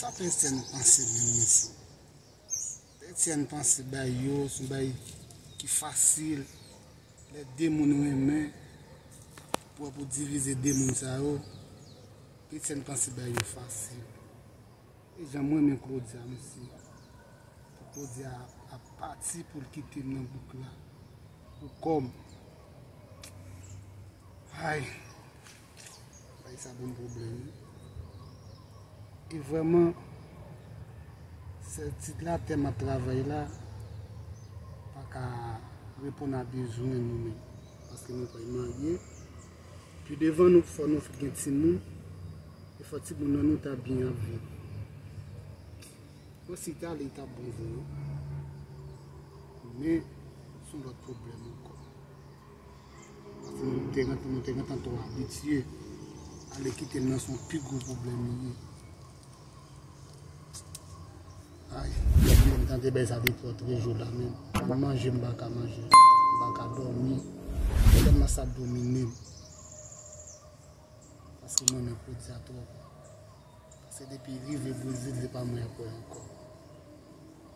Sa pè Etienne panse menm mesye? Pè Etienne panse bay yo son bay ki fasil lè 2 moun renmen pou wè pou divize 2 moun sa yo pè Etienne panse bay yo fasil e jan m renmen Claudia mesye pou Claudia ap pati pou l kite m nan bouk la pou kò m hay. Bay sa bon problem. E vreman, sel tit la tè map travay la, pa ka repon a bezwen nou men. Paske nou pay marye. Pi devan nou fò nou fik gen ti moun. E fò ti moun nan nou ta byen ap viv. Bon si ta li ta bon vre wi. Men, son lot problem anko. Mwen te rentan, mwen te rentan to abitye. Ale kite l nan son pi gwo pwoblèm li ye. Ay, mwen tante bay sa de pwòt re jouda men. Mwen manje m baka manje. M baka dòmi. Mwen mwen sa domine m. Paske mwen mwen pwodi a twòp. Paske depi rive Brezil, se pa mwen apwe ankò.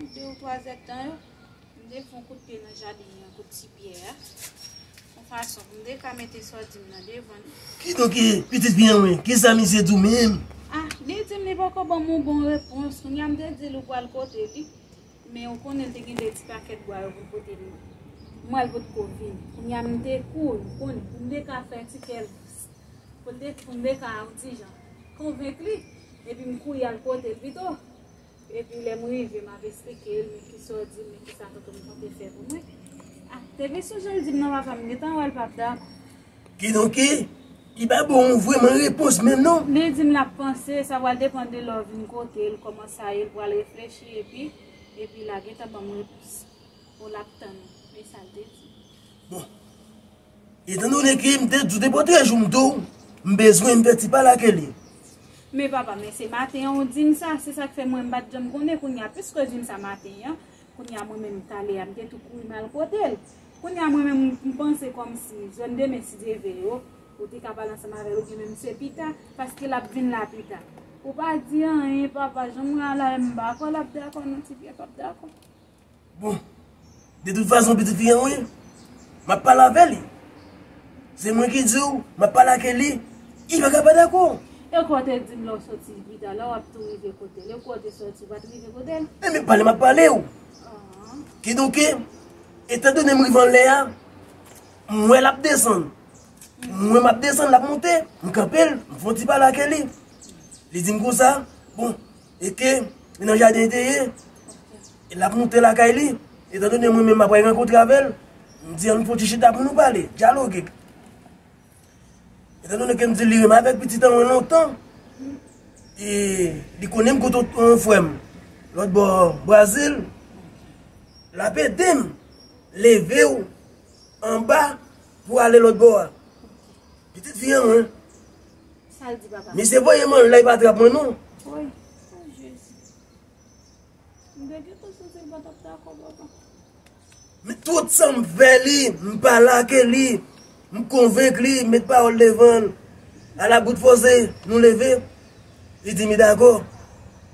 Pou de ou twa zèdtan yo, m te fon kout pye nan jaden an, kout ti pyè a, yon fason pou m te ka mete sòdi m nan devan li. Kidonk, pitit fi an mwen, kisa misye di w menm? A, li di m li poko ban m yon bon repons. Kounye a m te di l ou pral pote li, men ou konnen te gen de ti pakèt bwa yo pou l pote li. M wè l potko vin. Kounye a m te kouri, ou konnen, pou m te ka fè ti kè l dous. Pou l te, pou m te ka yon ti jan konvenk li, epi m kouri al pote l pito. Epi lè m rive m ap esplike l men kisa w di m men kisa tonton m konte fè pou mwen. A, depi sou je l di m nan papa m gentan wè l pap dakò. Kidonk, li pa ba w vrèman repons menm non. Li di m l ap panse, sa pral depann de lè w vin kote l, kòman sa ye, l pral reflechi epi, epi la gentan ban m repons. Ou l ap tann. E sa l te di. Bon. Etan done ke m te di w depi w te jwenn m tou, m bezwen m fè ti pale ake li. Men papa, men se maten an ou di m sa, se sa k fè mwen m pa t janm konnen, kounye a piske w di m sa maten an, kounye a mwen menm tale a m te tou kouri m al kote l. Kounye a mwen menm m panse kòmsi jòn demen si je veye w, ou te ka pale ansanm avè l oubyen menm se pita, paske l ap vin la pita. Ou pa di anyen papa, jan mwen al la menm m pa kwè l ap dakò non ti pye pa p dakò. Bon, de tout fason pitit fi an wi, m ap pale avè li. Se mwen ki di w, m ap pale ake li, li pa ka pa dakò. E kou w te di m lè w soti Vida, lè w ap tou rive kote l, e kou w te soti, ou pa t rive kote l? E men pale m ap pale w. Kidonke, etan done m rive anlè a, m wè l ap desann. M wè m ap desann, l ap monte, m kanpe l, m fon ti pale ake li. Li di m konsa, bon, e ke li nan jaden li te ye, e l ap moute lakay li, etan done mwen menm m ap pral rankontre avè l, m di an nou fè yon ti chita pou nou pale, dyaloge. Etan done ke m di li renmen avèk pitit an mwen lontan, e li konnen m kote yon frè m lòt bò Brazil, l ap ede m leve w anba pou ale lòt bò a. Pitit fi an mwen. Sal di papa. Misye voye man lay pa trap mwen non. Woy. Oh Jezi. M te gentan santi l pa tap dakò papa. Men tout sam fè li, m pa lake li, m konvenk li, m met pawòl devan l. Ala bout fòse, nou leve. Li di mi dakò.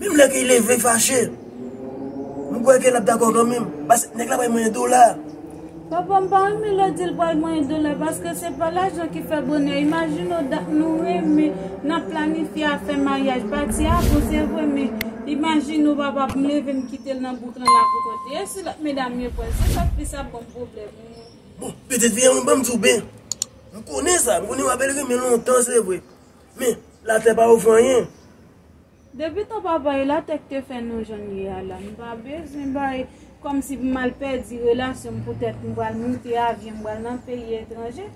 Menm lè ke li leve fache. M kwè ke l ap dakò kanmenm. Paske nèg la bay mwen dola. Papa m pa renmen lè w di l bay mwen dola. Paske se pa lajan ki fè bonè. Imajine w dat nou renmen. N ap planifye afè maryaj. Pati a bon se vre. Men imajine w papa m leve m kite l nan bouk lan la poukont li. E si lòt medam yo pran l. Se sa k plis ap ban m pwoblèm. Bon, petèt fi a mwen ban m di w ben. M konnen sa. M konnen w ap bèl renmen lontan se vre. Men, latè pa ofri anyen. Depi tan papa e latè k te fè nou jan n ye a la, m pa bezwen bay kòmsi pou m al pèdi relasyon m poutèt m pral moute avyon m pral nan peyi etranje.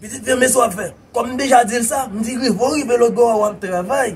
Pitit, men men sa w ap fè. Kòm m deja di l sa, m di rive w rive lòtbò a w ap travay.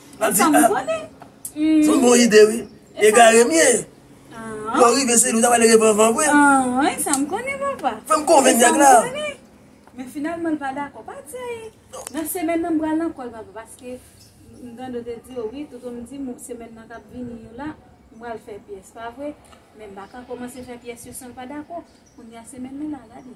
Map di ah. Son bon ide wi. Egare m ye. Lò rive se lou ta pale revan van vwe. An, e sa m konnen papa. Fè m konven nèg la. E sa m konnen. Men finalman l pa dakò. Pa di a e. Nan semèn nan m pral nan kòl papa. Paske m tande w te di yo wi. Toto m di m semèn nan kap vini yo la. M pral fè pyès pa vwe. Men m pa ka kòmanse fè pyès yo san l pa dakò. Kounya se menm li la gade.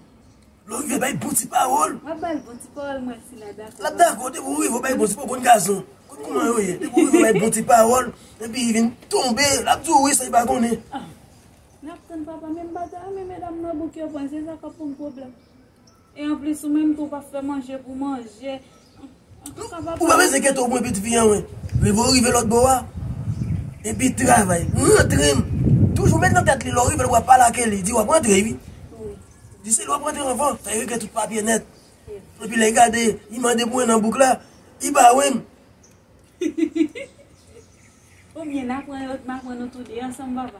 Lò rive bay bon ti pawòl. Wap bal bon ti pawòl mwen si la dakò. Lap dakò depi ou rive bay bon ti pawòl konn gason. Konn kouman yo ye. Depi ou rive bay bon ti pawòl epi li vin tonbe lap di ou wi san li pa konnen. Nap tann papa menm bagay wi men medam nan bouke pwen se sa kap fon pwoblèm. E anplis ou menm tou pap fè manje pou manje. Ou pa pase ghetto pou mwen piti fi an mwen. Rive ou rive lòt bò a. Epi travay. Mwen antre m. Toujou met nan tèt li lè ou rive ou ap pale ake li. Di wap antre wi. Di se li wap antre anvan. Sa yo gen tout papye nèt. Epi lè gade li mande pou 1 an bouk la. Li ba ou 1. Ou byen aprann yo t m aprann nou tou 2 ansanm papa.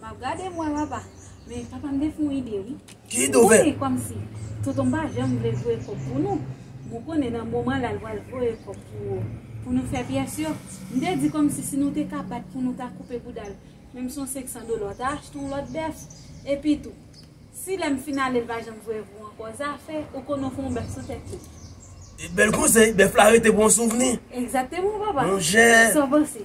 Map gade mwen papa. Men papa m te fon ide wi. Ki ide ou fè? Mwen konnen komsi tonton m pa janm vle voye kob pou nou. Mwen konnen nan moman la l pral voye kob pou pou nou fè pyès yo. M te di komsi si nou te ka bat pou nou ta koupe bouda l. Menm si yon 500 dola w ta achte yon lot bèf. Epi tou si lè m fin ale l pa janm voye pou w anko. Zafè ou konnen w fon bèf sou tèt li. Bèl konsèy. Bèf la rete pou yon souvni. Egzateman papa. Monchè. Sa w panse?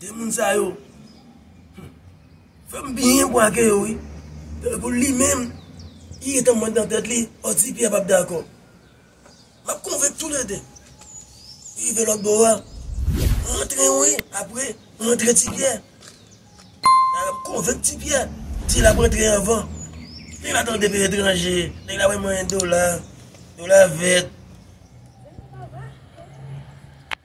De moun sa yo fem byen bwa ke yo wi. Tankou li menm li gentan mwen nan tèt li oh ti Pierre pap dakò. Map konvenk tou le 2. Rive lòt bò a rantre wi apre rantre ti Pierre. Map konvenk ti Pierre di lap rantre anvan. Nèg la tande peyi etranje, nèg la wè mwen dola, dola vèt.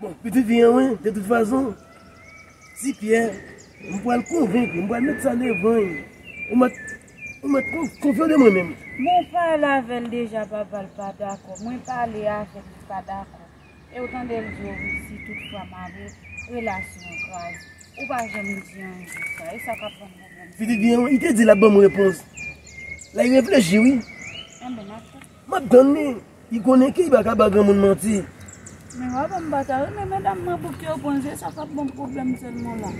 Bon, pitit fi an mwen, de tout fason, ti Pyè, m pral konvenk li, m pral met sa devan li. Ou mèt, ou mèt konfye w de mwen menm. Mwen pale avè l deja papa, l pa dakò. Mwen pale avè l, li pa dakò. E ou tande l di ou wi, si tout fwa m ale, relasyon an grav. Ou pa janm di anyen de sa. E sa k ap ban m pwoblèm sa. Pitit fi an mwen, li te di l ap ban m repons. La li reflechi wi. Enben, m ap chèche. Map tann li, li konnen ke li pa ka ba granmoun manti. Men wap wè m pa ta renmen medam mwen pou kew pran jwe sa pap banm pwoblèm sèlman la.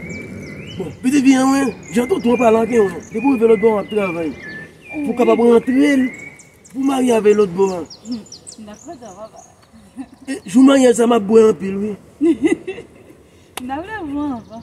Bon, pitit fi an mwen, jan tonton an pale ak yon an, depi ou rive lòtbò an wap travay pou w kapab rantre l pou w marye avè l lòtbò an. Nap fè sa papa. E jou maryaj sa map bwè anpil wi. Nap leve mwen anvan.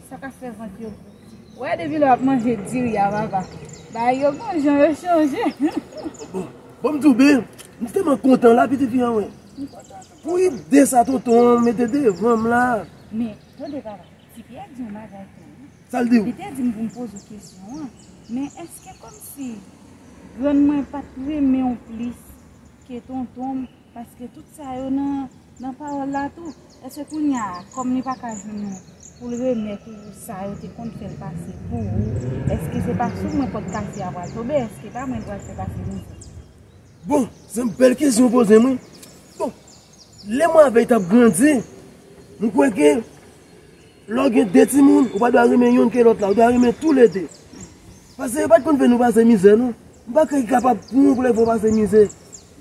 Sa ka fè vant yo gou. Wè depi lè wap manje diri a papa. Bagay yo bon jan yo chanje. Bon m di w byen, m tèlman kontan la pitit fi an mwen. Pou ide sa tonton an mete devan m la. Men, tande papa, ti Pyè di yon bagay tou wi. Sa l di w? Li te di m pou m poze w kesyon an, men èske kòmsi grann mwen pat renmen w plis ke tonton m Paske tout sa yo nan pawòl la tou. Èske kounya a, kòm li pa ka jwenn ou pou l remèt ou sa yo te konn fè l pase pou ou, èske se pa sou mwen pòt kase a pral tonbe? Èske pa mwen l pral fè pase mizè? Bon, se bèl kesyon ou poze m wi. Bon, lè mwen avè l t ap grandi, m kwè ke. Lè w gen 2 timoun, ou pa dwa renmen youn ke lòt la, ou dwa renmen tou le 2. Pase yo pa t konn fè nou pase mizè non. M pa kwè ki kapab pou yon koulèv fè w pase mizè.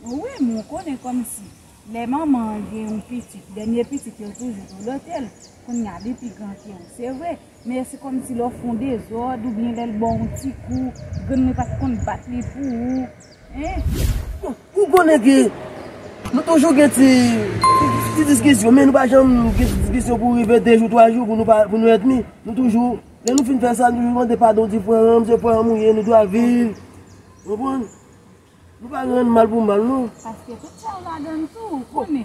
O wi, men w konnen kòm si lè manman an gen yon pitit, dènye pitit yo toujou dolote l. Kounye a li pi gran ke w, se vre, men se kòm si lè w fè yon dezòd oubyen lè l ba w yon ti kou, grann li pa t konn bat li pou ou, hein. Bon, Ou konnen ke nou toujou gen ti diskisyon, men nou pa janm gen diskisyon pou rive 2 jou, 3 jou pou nou èdmi. Nou toujou, lè nou fin fè sa, nou toujou mande padon, di frè an, se frè an ou ye, nou dwa viv. Ou konprann? Nou pa rann mal pou mal non. Paske tout sa yo ladan l tou, ou konnen.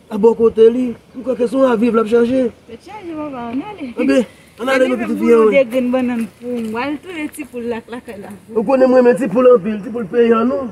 A bò kote li, m kwè ke se yon avi l ap chache. Tèt chaje papa, an ale. An ben, an ale nou pitit fi an. Mwen gen 2 grenn bannann pou m. Mwen al touye ti poul la k lakay la. Ou konnen m renmen ti poul anpil, ti poul peyan nou.